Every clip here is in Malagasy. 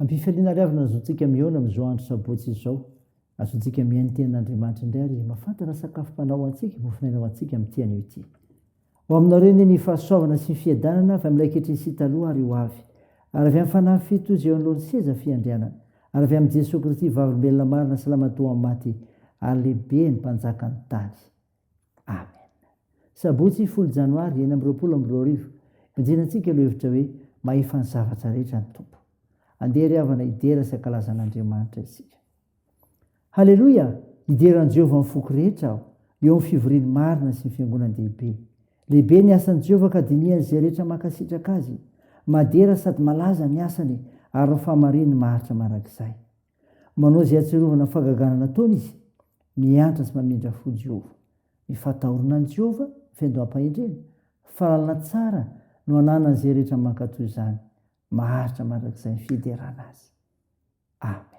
Ampifaliana ary avona ny zontsika mihaona amin'izao andro sabotsy izao. Azontsika mihaino ny tenin'Andriamanitra indray ary mahafantatra ny sakafom-panahy ho antsika, mofon'aina ho antsika amin'ity anio ity. Ho aminareo anie ny fahasoavana sy ny fiadanana avy amin'ilay ankehitriny sy taloha ary ho avy, ary avy amin'ny Fanahy Fito izay eo anoloan'ny seza fiandrianana, ary avy amin'i Jesoa Kristy Vavolombelona marina sy Lamatoa maty ary lehibe ny Mpanjakan'ny tany. Amen. Sabotsy folo janoary enina amby roapolo amby roa arivo, ibanjinantsika ireo hevitra hoe mahefa ny zavatra rehetra ny Tompo. Andeha ry havana hidera sy hankalaza an'Andriamanitra isika. Haleloia! Hidera an'i Jehovah amin'ny foko rehetra aho, eo amin'ny fivoriany marina sy ny fiangonan-dehibe. Lehibe ny asan'i Jehovah ka dinihan'izay rehetra mankasitraka azy. Madera sady malaza ny asany ary ny fahamarinany maharitra mandrakizay. Manao izay hahatsiarovana ny fahagagana nataony izy, miantra sy mamindra fo Jehovah. Ny fahatahorana an'i Jehovah, feno am-pahendrena, fahalalana tsara no ananan'izay rehetra mankatò izany. Maharitra mandrakizay ny fiderana azy. Amen.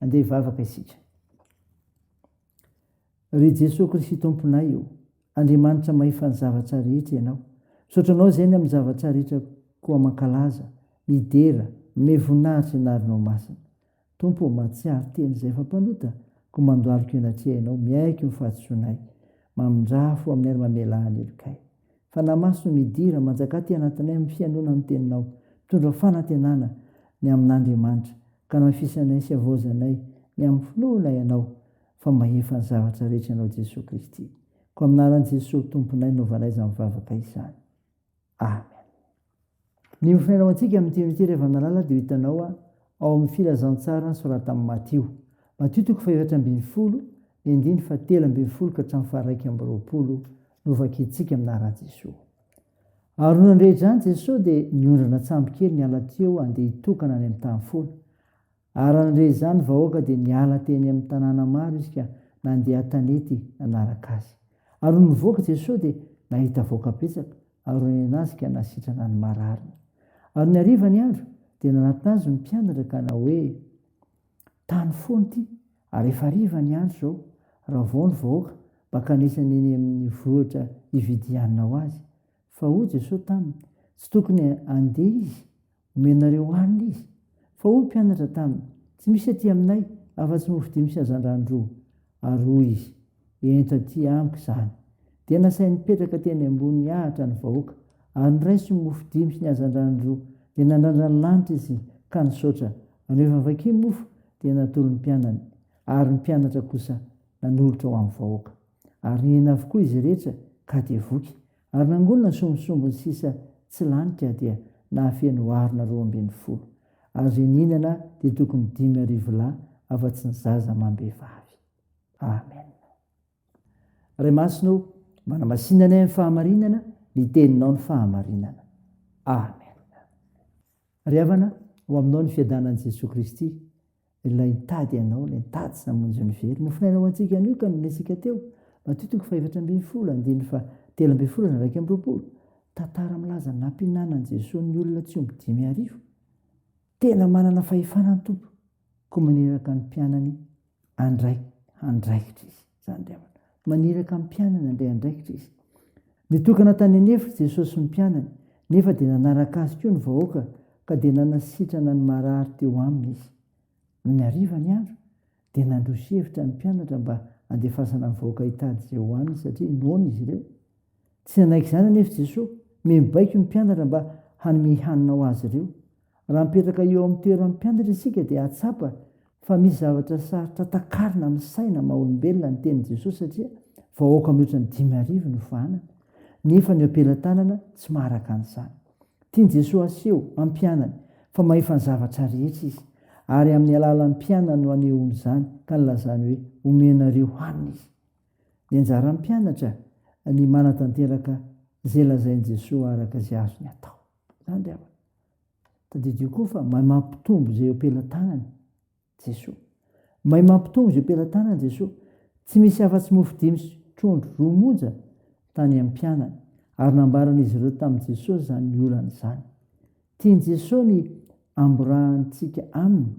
Andeha hivavaka isika. Ry Jesoa Kristy Tomponay ô, Andriamanitra mahefan' ny zavatra rehetra Ianao. Misaotra Anao izay ny amin'ny zavatra rehetra koa mankalaza, midera, manome voninahitra ny anaranao masina. Tompo ô, mahatsiaro teny izay efa mpanota Koa mandohalika eny atrehinao Miaiky ny fahadisoanay Mamindraha fo aminay ary mamelà ny helokay Fanahy Masina ô midira manjaka aty anatinay Amin'ny fihainoana ny teninao Mitondra fanantenana ny amin'Andriamanitra Ka anafisanay sy avaozanay Ny amin'ny finoana ianao Fa mahefa ny zavatra rehetra ianao Jesoa Kristy Koa amin'Anaran'i Jesoa Tomponay Naovanay izany vavaka izany Amen. Miompona ao antsika amin'ity andro ity ry Ravanalala dia ho hitanao ao amin'ny filazantsaran'ny soratan'i Matio. Matio toko fahefatra ambin'ny folo, ny andininy fahatelo ambin'ny folo ka hatramin'ny faharaika amby roapolo no vakintsika aminà raha Jesoa. Ary noho an'irehitra izany Jesoa dia niondrana an-tsambokely niala teo handeha hitokana any amin'ny tany foana. Ary nandre izany vahoaka dia niala teny amin'ny tanàna maro izy ka nandeha an-tanety nanaraka azy. Ary nony nivoaka Jesosy dia nahita vahoaka betsaka ary nonena azy ka nasitrana ny marariny. Ary ny hariva ny andro dia nanatona azy ny mpianatra ka nanao hoe, Tany foana ity ary efa hariva ny andro izao, raha vao ny vahoaka mba kanesana eny amin'ny vohitra hividianana ho azy. Fa hoy Jesosy taminy, Tsy tokony handeha izy Omenareo hanina izy. Fa hoy ny mpianatra taminy, Tsy misy aty aminay afa-tsy mofo dimy sy hazandrano roa. Ary hoy izy, Ento aty amiko izany. Dia nasainy nipetraka teny ambony ahitra ny vahoaka, ary niraiso ny mofo dimy sy ny hazandrano roa. Dia nandrandra ny lanitra izy ka nisaotra, ary rehefa vaky ny mofo, dia natolo ny mpianany, ary ny mpianatra kosa nanolotra ho amin'ny vahoaka. Ary nihena avokoa izy rehetra, ka dia voky. Ary nangonina ny sombinsombiny sisa tsy lany ka dia nahafeno harona roa ambin'ny folo. Ary izay nihinana dia tokony dimy arivo lahy afa-tsy ny zaza amam-behivavy. Amena. Ray Masina ô, manamasina anay amin'ny fahamarinana ny Teninao ny fahamarinana. Amena. Ry havana, ho Aminao ny fiadanan'i Jesoa Kristy, Ilay nitady anao, ilay nitady sy namonjy ny very. Mofonaina ho antsika anio ka niresaka teo. Matio toko fahefatra ambin'ny folo, andininy fahatelo ambin'ny folo ary iraika amby roapolo. Tantara milaza ny nampihinanan'i Jesoa ny olona tsy omby dimy arivo. Tena manana fahefana ny Tompo, koa maniraka ny mpianany handray andraikitra Izy. Zany indray aho. Maniraka ny mpianany handray andraikitra izy. Nitokana tany an'efitra Jesosy sy ny mpianany, nefa dia nanaraka azy koa ny vahoaka ka dia nanasitrana ny marary teo aminy izy. Nony hariva ny andro, dia nandroso hevitra ny mpianatra mba handefasana ny vahoaka hitady izay hohaniny satria noana izy ireo. Tsy nanaiky izany anefa Jesosy. Miha mibaiko ny mpianatra mba hanome hanina ho azy ireo. Raha mipetraka eo amin'ny toeran'ny mpianatra isika dia hahatsapa fa misy zavatra sarotra takarina amin'ny saina maha olombelona ny tenin'i Jesosy satria vahoaka mihoatra ny dimy arivo no fahanana nefa ny eo am-pelatanana tsy maharaka an'izany. Tian'i Jesosy haseho amin'ny mpianany fa mahefa ny zavatra rehetra izy ary amin'ny alalan'ny mpianany no anehoany izany ka nilazany hoe omenareo hanina izy. Ny anjaran'ny mpianatra ny manatanteraka izay lazain'i Jesosy araka izay azony atao. Izany ry havana. Tadidio koa fa mahay mampitombo izay eo am-pelatanany Jesoa. Mahay mampitombo izay eo am-pelatanany Jesoa. Tsy misy afa-tsy mofo dimy sy trondro roa monja tany amin'ny mpianany, ary nambaran'izy ireo tamin'i Jesoa izany olana izany. Tian'i Jesoa ny hamborahantsika Aminy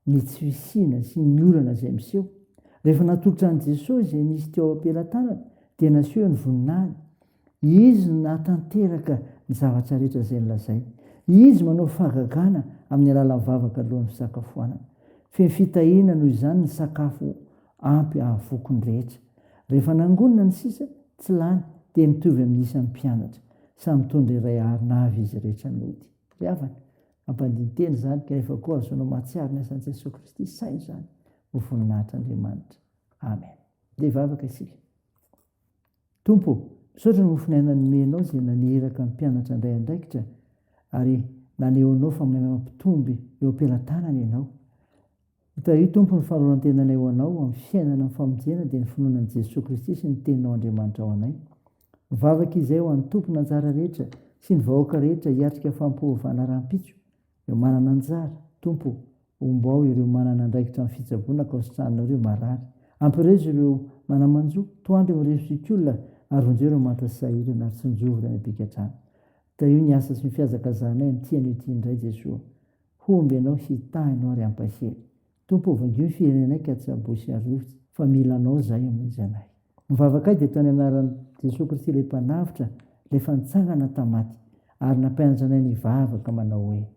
ny tsy fisiana sy ny olana izay miseho. Rehefa natolotra an'i Jesoa izay nisy teo am-pelatanany, dia naseho ny voninahiny, Izy no nahatanteraka ny zavatra rehetra izay nolazainy. Izy manao fahagagana amin'ny alalan'ny vavaka alohan'ny fisakafoanana. Feno fitahiana noho izany ny sakafo ampy ahavoky ny rehetra. Rehefa nangonina ny sisa, tsy lany, dia mitovy amin'ny isan'ny mpianatra. Samy mitondra iray harona avy izy rehetra nody. Ry havana, ampandin-tena izany kanefa koa ahazoanao mahatsiaro ny asan'i Jesoa Kristy. Saino izany ho voninahitr'Andriamanitra. Amen. Dia hivavaka isika. Tompo ô, misaotra mofonaina nomenao izay naniraka ny mpianatra handray andraikitra ary nanehoanao fa mahay mampitombo eo am-pelatanana ianao. Itario Tompo ny fanoloran-tenanay ho anao amin'ny fiainana amin'ny famonjena dia ny finoana an'i Jesoa Kristy sy ny Teninao Andriamanitra ao anay. Mivavaka izay ho an'ny tompon'anjara rehetra sy ny vahoaka rehetra hiatrika fampiovaovana rahampitso. Ireo manana anjara, Tompo ô, ombao ireo manana andraikitra amin'ny fitsaboana ankaositrahanareo marary. Ampirezo ireo manamanjo, toandro ireo mirefy fikola, ary vonjeo ireo manta sy sahirana, ary tsinjovy ireo any am-pigadrana. Tahio ny asa sy ny fihazakazahanay amin'ny tia an'io tia indray, Jesoa. Homby Ianao, hitahy Ianao ary hampahery. Tompo vangio ny firenenay ka tsy abo sy arovy fa mila anao zahay hamonjy anay. Ny vavakay dia ataony anaran Jesoa Kristy ilay mpanavotra ilay efa nitsangana tam maty ary nampianatra anay ny hivavaka manao hoe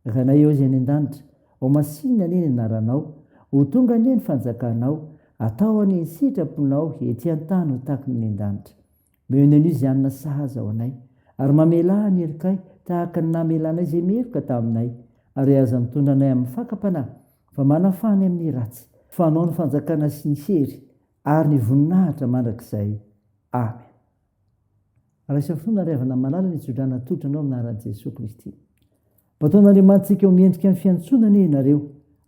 Rainay ao izay any andanitra ho masinina anie ny anaranao ho tonga anie ny fanjakanao atao anie ny sitraponao ety antany ho tahaky ny any andanitra Meoneno izy hanina sahaza ho anay, ary mamelà ny herikay tahaka ny namelànay izay meloka taminay, ary aza mitondra anay amin'ny fakam-panahy, fa manafaha ny amin'ny ratsy, fa anao ny fanjakana sy ny hery ary ny voninahitra mandrakizay. Amen. Raisa fo na ry havana malala ny tso-drano natolotranao amin'ny anaran'i Jesoa Kristy. Bataon'Andriamanitsika ho miendrika ny fiantsoana anie ianareo,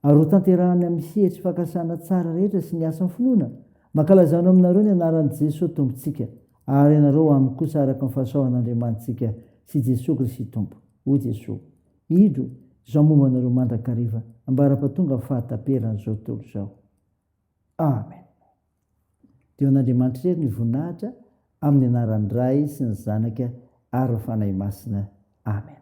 ary ho tanterahany amin'ny sehatry fakasana tsara rehetra sy ny asan'ny finoana, mankalaza anao aminareo ny anaran'i Jesoa Tompontsika, ary ianareo aminy kosa araka ny fahasoavan'Andriamanitsika sy Jesoa Kristy Tompo. O Jesoa, indro, izao momba anareo mandrakariva, ambara-pahatonga amin'ny fahataperan'izao tontolo izao. Amen. Dia ho an'Andriamanitra irery ny voninahitra amin'ny anaran'ny Ray sy ny Zanaka ary ny Fanahy Masina. Amen.